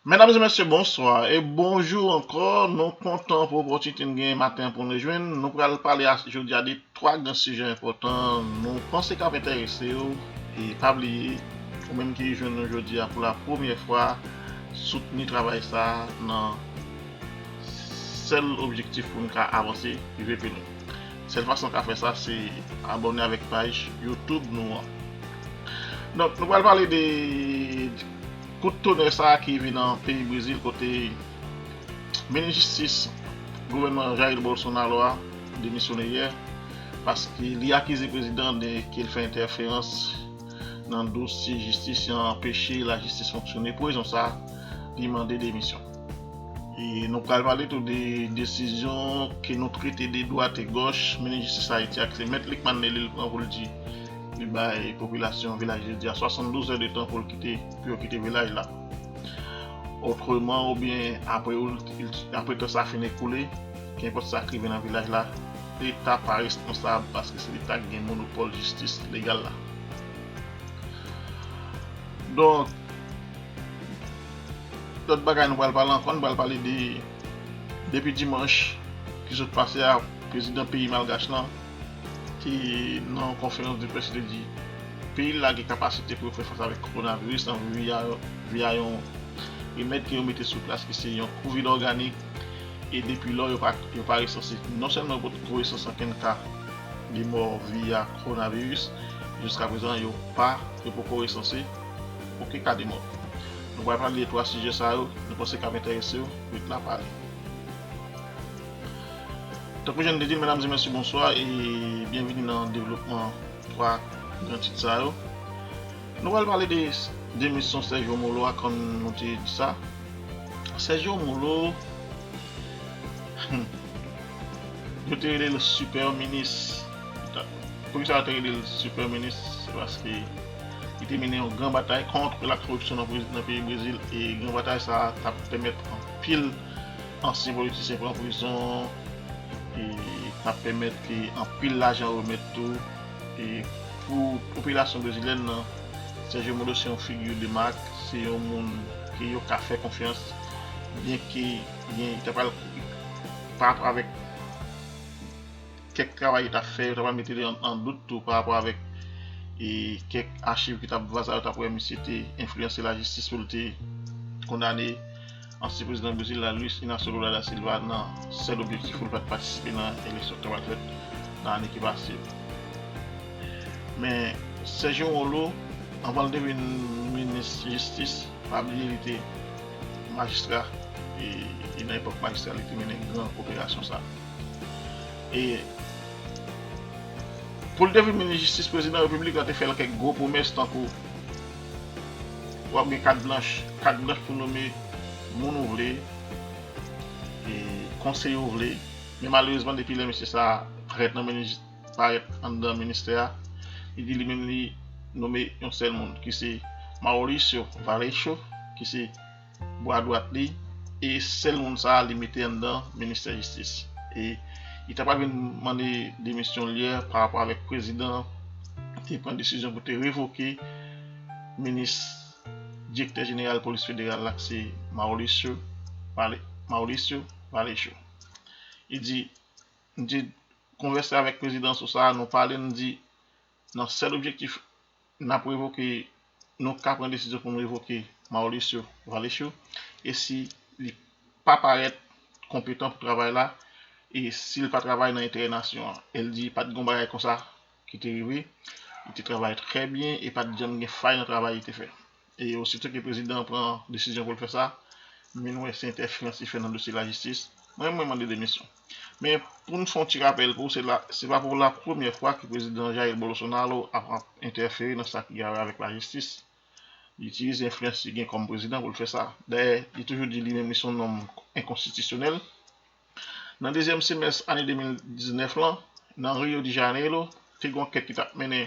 Mesdames et messieurs, bonsoir et bonjour encore. Nou kontan pou opòtinite nou genyen maten pou nou jwenn. Nou pral pale a jodi a de 3 gran sijè enpòtan nou panse kap enterese yo. E pa bliye, ou menm ki jwenn nou jodi a pou la premyè fwa, soutni travay sa nan sèl objektif pou nou ka avanse rive pi lwen. Sèl fason ka fè sa se abòne avèk paj YouTube nou an. Donk nou pral pale de kout tonè sa ki vin nan peyi Brezil kote minis jistis gouvènman Jair Bolsonaro a demisyone yè paske li akize prezidan de ke l fè entèferans nan dosye jistis e anpeche lajistis fonksyone pou rezon sa li mande demisyon. E nou pral pale tou de desizyon ke nou trete de dwat e gòch, Minis Jistis Ayiti ak se Mèt Lickmann Lelil pran pou l di li bay popilasyon Vilaj Jodi a 72 zè de tan pou l kite, pou yo kite Vilaj la. Otreman oubyen apre ou, apre tan sa fin ekoule, kenpòt sa k rive nan Vilaj la, Leta pa responsab paske se Leta ki gen monopòl jistis legal la. Donk. Lòt bagay nou pral pale ankò, nou pral pale de depi dimanch ki sot pase a prezidan peyi malgach lan te nan yon konferans de près li te di peyi l la gen kapasite pou yo fè fas avèk kowonaviris lan via yon remèd ke yo mete sou plas ki se yon kovid òganik e depi lò yo pa resanse non sèlman yo pot ko resanse ankenn ka de mò via kowonaviris jiskaprezan yo pa yo poko resanse. Ok Kademò, nou pral pale de 3 sijè sa yo, nou panse kap enterese w, ret la pale. Tankou jan n te di l medam e mesye bonswa e byenvini nan devlopman 3 gran tit sa yo. Nou pral pale de demisyon Sergio Molo a kòm nou te di sa. Sergio Molo yo te rele l super minis. Poukisa yo te rele l super minis se paske Li te mennen yon gran batay kont la koripsyon nan peyi Brezil e gran batay sa a t ap pèmèt anpil ansyen politisyen pran prizon e t ap pèmèt ke anpil lajan remèt tou. E pou popilasyon brezilyèn nan, Sèjyo Moro se yon figi de mak, se yon moun ke yo ka fè konfyans byenke li ta pral pa avèk. kèk travay yo tap fè, yo tap mete li an dout tou pa rapò avèk e kèk achiv ki tap vaza yo tap wè misye te enfliyanse lajistis pou li te kondane ansyen prezidan Brezil la Luis Inacio Lula da Silva nan sèl objektif pou li pat patisipe nan eleksyon ki ta pral fèt nan ane ki pase yo. Men Sergio Moro anvan li te vin minis jistis pa bliye li te majistra e nan epòk majistra li te mennen gran operasyon sa. Pou l te vin minis jistis, prezidan repiblik la te fè l kèk gwo pwomès tankou, w ap gen kat blanch, kat blanch pou nome moun ou vle, konseye ou vle, men malerezman depi lè mesye sa a parèt nan ministè a, li di li menm li nome yon sèl moun ki se Mauricio Varecho ki se bwa dwat li e sèl moun sa li mete anndan ministè jistis e li ta pral vin mande demisyonl yè pa rapò avèk prezidan te pran desizyon pou te revoke minis direktè jeneral polis federal la ki se Mauricio Mauricio Vallejo li di m te konvèse avèk prezidan sou sa nou pale m di Nan sèl objektif n ap revoke nou ka pran desizyon pou n revoke Mauricio Vallecio e si li pa parèt konpetan pou travay la e si l pa travay nan enterè nasyon an. El di pa t gen yon bagay konsa ki te rive, li te travay trè byen e pa t janm gen fay nan travay li te fè. E osito ke prezidan an pran desizyon pou l fè sa, min wè se entèferans li fè nan dosye lajistis, mwen mwen mande demisyon. Men pou n fè yon ti rapèl pou w se la se pa pou la premyè fwa ke prezidan Jair Bolosonaro ap ap entèfere nan sa ki gare avèk lajistis. Li itilize enfliyans li gen kòm prezidan pou l fè sa. Dayè li toujou di li menm li se yon nonm enkonstitisyonèl. Nan dezyèm semès ane 2019 lan, nan Rio de Janeiro, te gen yon ankèt ki t ap mennen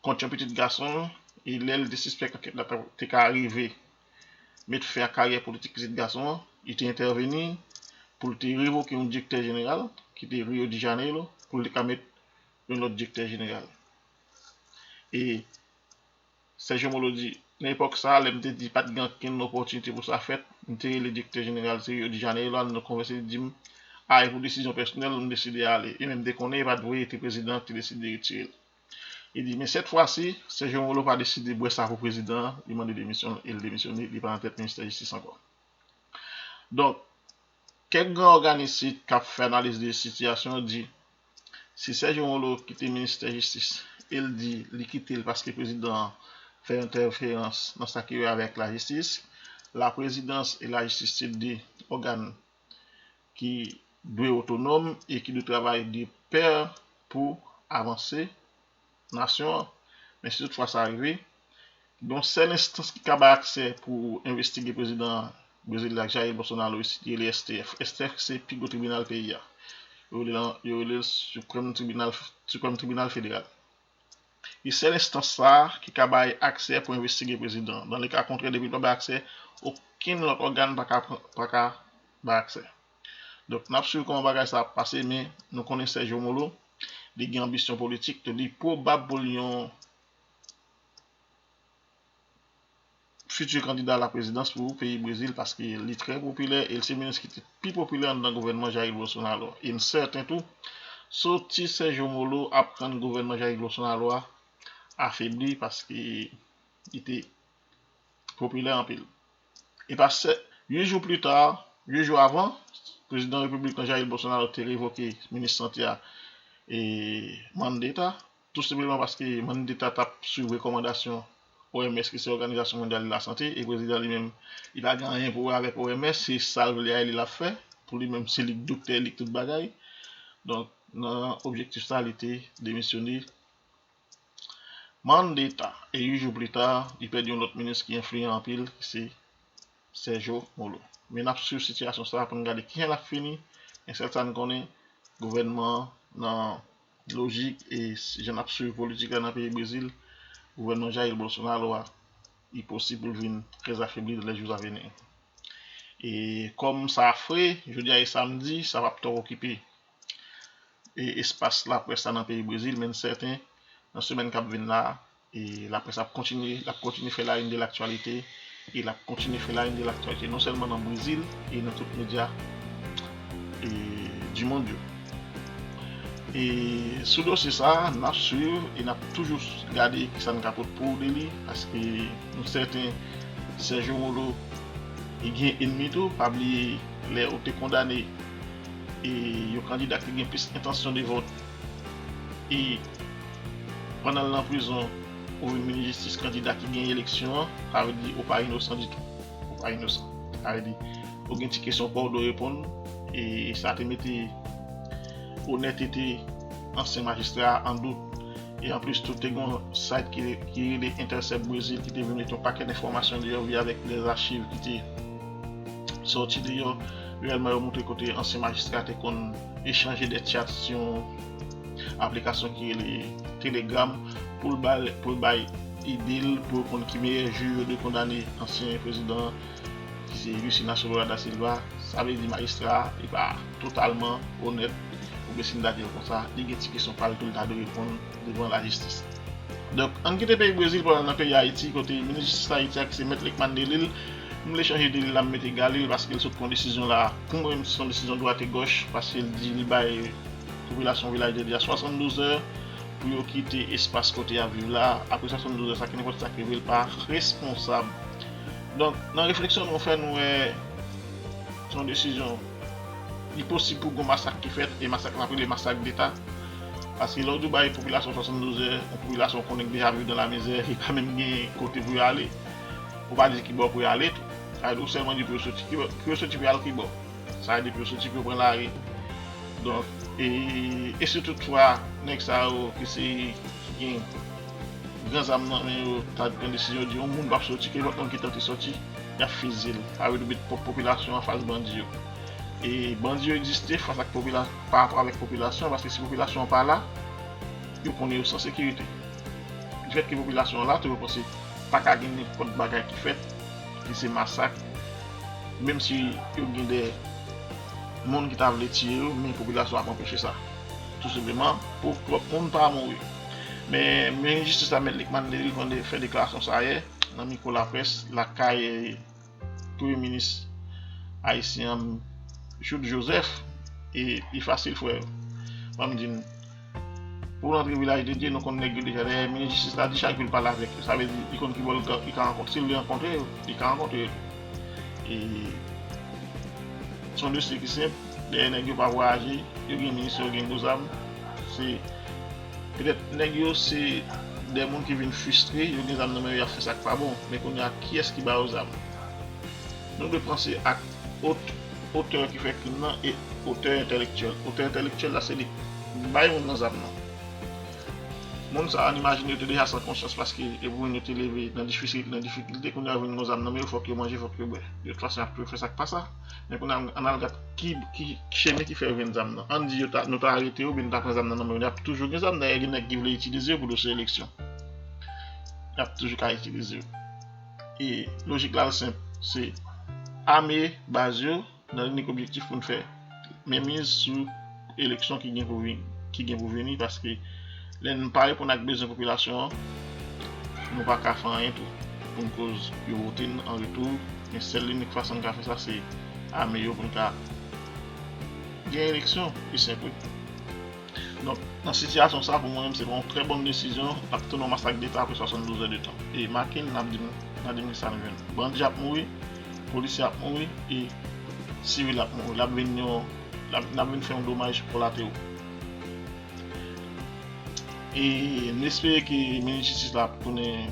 kont yon pitit gason l e lè l te sispèk ankèt la te ka rive met fen a karyè politik pitit gason an, li te entèveni pou l te revoke yon direktè jeneral ki te Rio de Janeiro pou l te ka met yon lòt direktè jeneral. E. Sèje Molo di, Nan epòk sa a, lè m te di pa t gen ankenn opòtinite pou sa fèt, m te rele direktè jeneral te Rio de Janeiro al nou konvèse li di m, a e pou desizyon pèsonèl, m deside ale, e men m te konnen e pa t vre e te prezidan an ki te deside retire l. Li di, men sèt fwa si, Sèje Molo pa deside bwè sa pou prezidan an, li mande demisyon l e l demisyone, li pa nan tèt ministè jistis ankò. Donk. Kèk gran òganisit kap fè analiz de sitiyasyon yo di si Sergio Moro kite ministè jistis el di li kitel paske prezidan an fè entèferans nan sa ki wè avèk lajistis, laprezidans e lajistis se 2 ògàn ki dwe otonòm e ki dwe travay de pè pou avanse nasyon an, men si toutfwa sa rive, gen yon sèl enstans ki ka bay aksè pou envestige prezidan Brezil la, Jair Bolsonaro, li se rele STF. STF ki se pi gwo tribinal peyi a. Yo rele lan, yo rele l Supreme Tribunal, Siprèm Tribinal Federal. Li sèl enstans sa a ki ka bay aksè pou envestige prezidan an. Nan le ka kontrè, depi l pa bay aksè, okenn lòt ògàn pa ka pran, pa ka bay aksè. Donk nap swiv kòman bagay sa ap pase men nou konnen Serge Romolo li gen anbisyon politik tou li pwobab pou l yon fiti kandida la prezidans pou peyi Brezil paske li trè popilè e l se minis ki te pi popilè anndan gouvènman Jair Bolsonaro e m sèten tou soti Serge Romolo ap rann gouvènman Jair Bolsonaro a afebli paske li te popilè anpil. E pa 7 jou pli ta, 8 jou avan, prezidan repiblik lan Jair Bolsonaro te revoke minis sante a e Mandetta, tou senpleman paske Mandetta t ap swiv rekòmandasyon OMS ki se Òganizasyon Mondyal de la Sante e prezidan li menm li pa gen anyen pou wè avèk OMS se sa l vle a e li l ap fè pou li menm se li k doktè li k tout bagay donk nan objektif sa li te demisyone. Mann deta, e 8 jou plita, li pèdi yon lòt minis ki enfliyan anpil ki se Sèjo Molo. Men nap swiv sitiyasyon sa pou n gade kijan lap fini, men sèl sa n konnen gouvènman an nan lojik e jan nap swiv politik la nan peyi Brezil, gouvènman Jair Bolsonaro a li posib pou l vin trè afebli nan lè jou aveni. E kòm sa fre, jodi a e samdi, sa pap twòp okipe. espas laprès la nan peyi Brezil men sèten nan semèn kap vin la laprès ap kontinye lap kontinye fè la in de laktyalite e lap kontinye fè la in de laktyalite non sèlman nan Brezil e nan tout medya e di mond yo e sou dosye sa nap swiv e nap toujou gade ki sa n ka pot pou de li paske nou sèten Serge Molo li gen enmi tou pa bliye lè ou te kondane E yon kandida ki gen plis entansyon de vòt e pandan l nan prizon ou vin minis jistis kandida ki genyen eleksyon an sa vle di ou pa inosan ditou ou pa inosan sa vle di ou gen ti kesyon paw dwe reponn e sa te mete onètete ansyen majistra a an dout e anplis tou te gen yon site ki rele intercept Brazil ki te vin mete yon pakèt enfòmasyon deyò via avèk de achiv ki te sòti deyò. Reyèlman yo moutre kote ansyen majistra te konn echanje dè tchat sou yon aplikasyon ki rele Telegram pou l bay ide l pou yo konn ki meyè jou yo dwe kondane ansyen prezidan an ki se Jusinacio Lula da Silva. Sa vle di majistra a li pa totalman onèt pou Bessinda di l konsa, li gen ti kesyon pa l tou li ta dwe reponn. devan lajistis. Donk, ann kite peyi Brezil pou n al nan peyi Ayiti kote minis jistis Ayiti a ki se Mèt Lekmann Delil, m vle chanje Delil la m mete Galil paske l sot pran desizyon la, pou mwen menm se yon desizyon dwat e gòch paske l di li bay popilasyon Vilaj Delil la 72 zè pou yo kite espas kote y ap viv la, apre 72 zè sa ki nenpòt sa k rive l pa responsab. Donk, nan refleksyon nou fè nou wè se yon desizyon. Li posib pou gon masak ki fèt e masak lan ap rele masak deta. Paske lè w di w bay popilasyon 72 zè, yon popilasyon w konnen ki deja viv nan lamizè, li pa menm gen kote pou yo ale. Ou pa di kibò pou yo ale tou. Sa vle di ou sèlman di pou yo soti. Pou yo soti pou yo al kibò? Sa vle di pou yo soti pou yo pran lari. Donk, e si tout fwa nèg sa yo ki se ki gen gran zam nan men yo ta pran desizyon di yon moun p ap soti, ke lòt moun ki tante soti? Yap fizil. Sa vle di met popilasyon an fas bandi yo. E bandi yo egziste fas ak popilasyon, pa rapò avèk popilasyon, paske si popilasyon an pa la, yo konnen yo san sekirite. Di fèt ke popilasyon an la tou, yo panse pa ka gen nenpòt bagay ki fèt, ki se masak, menm si yo gen de moun ki ta vle tiye yo, men popilasyon an ap anpeche sa. Tou senpleman, pou pwòp moun pa mouri. Men, minis jistis la, Mèt Likmann Delil, konn fè deklarasyon sa yè. nan mikwo laprès lakay premye minis ayisyen an Jouthe Joseph e li fasil frè yo banm di nou pou nou antre vilaj de Dye nou konn nèg yo deja dayè minis jistis la di chak vil pale avèk yo sa vle di li konn ki bò li ka rankontre si li vle rankontre yo li ka rankontre yo e son dosye ki senp dayè nèg yo pa vwayaje yo gen minis yo gen gwo zam se Petèt nèg yo se de moun ki vin fristre, yo gen zam nan men yo y ap fè sa k pa bon, men kounye a kiyès ki ba yo zam? Nou dwe panse ak ot otè ki fè krim nan e otè entèlektyèl otè entèlektyèl la se li k bay moun nan zam nan. Moun sa a n imajine yo te deja san konsyans paske yo pou moun yo te leve nan difikilte kounye a yo vin gen yon zam nan men yo fòk yo manje fòk yo bwè. Yo t fason y ap toujou fè sa k pa sa. Men kounye a an al gad ki chemi ki fè yo jwenn zam nan. An di yo ta nou ta arete yo oubyen nou ta pran zam nan nan men yo. Yap toujou gen zam dayè gen nèg ki vle itilize yo pou dosye eleksyon. Yap toujou ka itilize yo. E lojik la l senp se ame baz yo nan inik objektif pou n fè menmiz sou eleksyon ki gen pou vini, ki gen pou vini paske lè nou pa reponn ak bezwen popilasyon an, nou pa ka fè anyen tou. Pou n koz yo vote n an retou, men sèl linik fason n ka fè sa se ame yo pou n ka gen eleksyon, pi senp wi. Donk, nan sitiyasyon sa pou mwen menm se pa yon trè bòn desizyon ap tounen yon masak deta apre 72 zè de tan. E make n ap di nou, n ap di nou sa nou jwenn. Bandi ap mouri, polisye ap mouri e sivil ap mouri. L ap vin yon. Nap vin fè yon domaj kolate ou. E nou espere ke minis jistis la ap tounen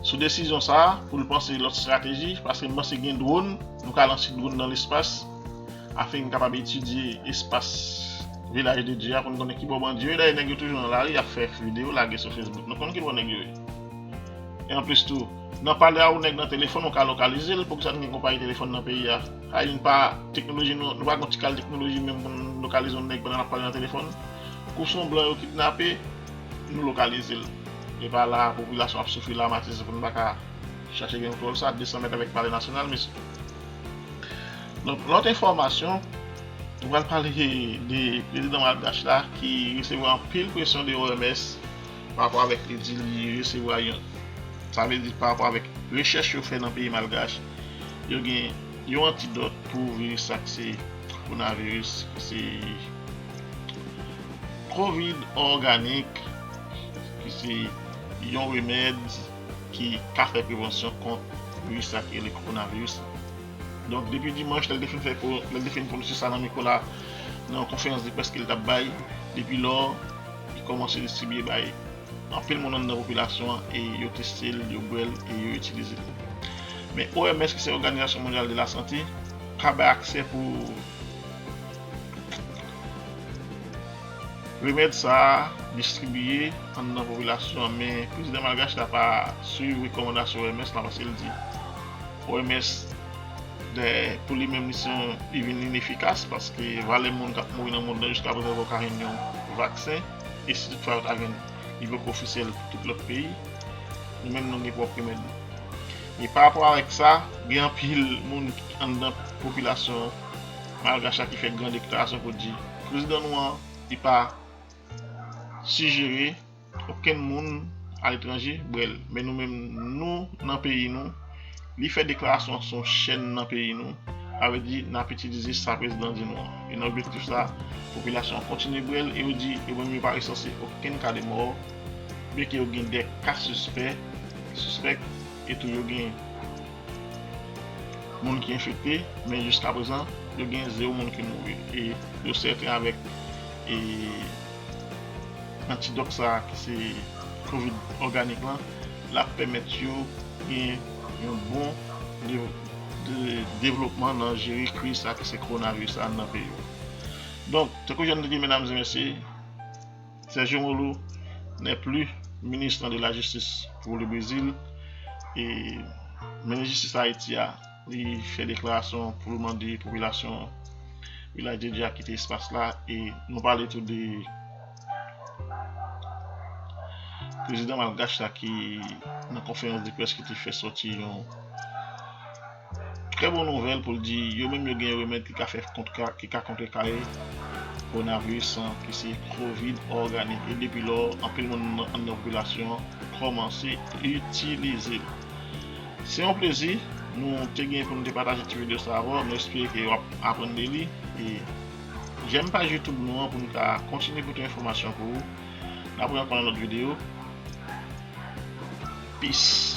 sou desizyon sa a pou l panse lòt estrateji paske m panse gen dron, nou ka lanse dron nan lespas afin n kapab etidye espas Vilaj de Dye a pou n konnen kibò bandi yo ye. Dayè nèg yo toujou nan lari ap fè videyo lage sou fesbouk. Nou konn kibò nèg yo ye. E anplis tou. Nan pale a ou nèg nan telefòn ou ka lokalize l poukisa nou gen konpayi telefòn nan peyi a hay nou pa teknoloji nou pa gon ti kal teknoloji menm pou n lokalize yon nèg pandan lap pale nan telefòn kou son blan yo kidnape nou lokalize l epa la popilasyon ap soufri la matize pou n pa ka chache gen kontwòl sa 200 mèt avèk pale nasyonal mesye donk lòt enfòmasyon nou pral pale de prezidan malgache la ki resevwa anpil presyon de OMS pa rapò avèk li di li resevwa yon sa vle di pa rapò avèk rechèch yo fè nan peyi malgach yo gen yon antidòt pou viris sa k se kowonaviris ki se covid òganik ki se yon remèd ki ka fè prevansyon kont viris sa ki rele kowonaviris la donk depi dimanch lè l te fin fè lè l te fin pwononse sa nan mikwo la nan yon konferans de près ke l t ap bay depi lò Li kòmanse distribye bay anpil moun anndan popilasyon an e yo teste l, yo bwè l e yo itilize l. Men OMS ki se Oganizasyon Mondyal de la Sante pa bay aksè pou remèd sa a distribye anndan popilasyon an men prezidan malgach la pa swiv rekòmandasyon OMS la paske l di. OMS dè pou li menm li se yon li vin inefikas paske valè moun kap mouri nan mond lan jiska prezan yo paka jwenn yon vaksen e si tout fwa yo ta jwenn li poko ofisyèl pou tout lòt peyi nou menm nou gen pwòp remèd nou e pa rapò avèk sa gen anpil moun anndan popilasyon malgach la ki fè gran deklarasyon pou di prezidan nou an li pa sijere Okenn moun aletranje brel men nou menm nou nan peyi nou li fè deklarasyon an son chèn nan peyi nou sa vle di nap itilize sa prezidan di nou an e nan objektif sa popilasyon an kontinye brel e yo di yo menm yo pa resanse okenn ka de mò byen ke yo gen 2 ka sispè sispèk e tou yo gen moun ki enfekte men jiska prezan yo gen 0 moun ki mouri e yo sèten avèk e. Antidòt sa a ki se Covid òganik lan, l ap pèmèt yo gen yon bon devlopman nan jere kriz sa a ki se kowonaviris la nan peyi yo. Donk, tankou jan nou te di medam e mesye, Sergio Moro n'est plus ministre de la justice pour le Brésil e Minis Jistis Ayiti a, Li fè deklarasyon pou l mande popilasyon Vilaj de Dye a kite espas la e nou pale tou de prezidan malgach la ki nan konferans de près ki te fè sòti yon trè bon nouvèl pou l di yo menm yo gen remèd ki ka fè ki ka kontre kare kowonaviris lan ki se kovid òganik e depi lò anpil moun anndan popilasyon kòmanse itilize l. Se yon plezi nou te gen pou nou te pataje ti video sa avèw, nou espere ke wap aprann de li e jèm paj youtube nou an pou nou ka kontinye pote enfòmasyon pou ou. N ap renkon nan lòt video. Peace.